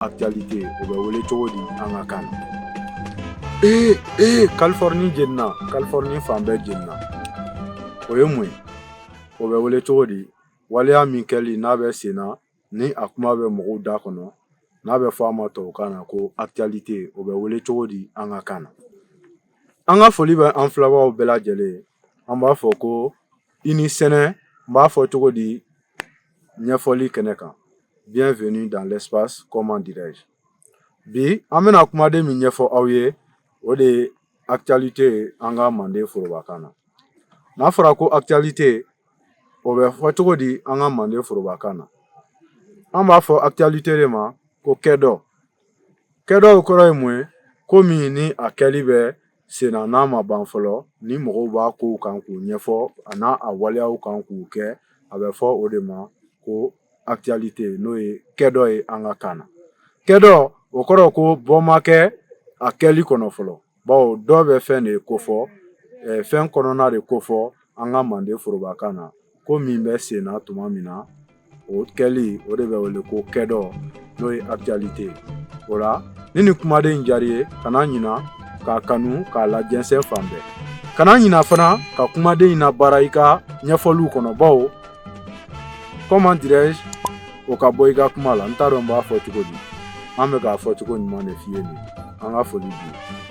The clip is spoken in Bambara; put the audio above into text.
actualité o bɛ wele cogo di an ka kan na ee ee kalifɔrɔni jenina kalifɔrɔni fan bɛɛ jenina o ye mun ye o bɛ wele cogo di waleya min kɛli n'a bɛ sen na ni a kuma bɛ mɔgɔw da kɔnɔ n'a bɛ fɔ a ma tubabukan na ko actualité o bɛ wele cogo di an ka kan na an ka foli bɛ an filɛbaaw bɛɛ lajɛlen ye an b'a fɔ ko i ni sɛnɛ n b'a fɔ cogo di ɲɛfɔli kɛnɛ kan bienvenue dans l'espace comment dirais-je bi an bɛna kumaden min ɲɛfɔ aw ye o de ye actualité an ka manden forobakan na n'a fɔra ko actualité o bɛ fɔ cogo di an ka manden forobakan na an b'a fɔ actualité de ma ko kɛdɔ kɛdɔ kɔrɔ ye mun ye ko min ni a kɛli bɛ sen na n'a ma ban fɔlɔ ni mɔgɔw b'a kow kan k'u ɲɛfɔ a n'a a waleyaw kan k'u kɛ a bɛ fɔ o de ma ko actualité n'o ye kɛdɔ ye an ka kan na kɛdɔ o kɔrɔ ko bɔ ma kɛ a kɛli kɔnɔ fɔlɔ bawo dɔ bɛ fɛn de kofɔ fɛn kɔnɔna de kofɔ an ka mande forobakan na ko min bɛ sen na tuma min na o kɛli o de bɛ wele ko kɛdɔ n'o ye actualité ye o la ni nin kumaden in diyara i ye kana ɲina k'a kanu k'a lajɛnsɛn fan bɛɛ kana ɲina fana ka kumaden in labaara i ka ɲɛfɔliw kɔnɔ bawo comment dirais-je o ka bɔ i ka kuma la n t'a dɔn n b'a fɔ cogo di an bɛ k'a fɔ cogo ɲuman de f'i ye nin an ka foli bi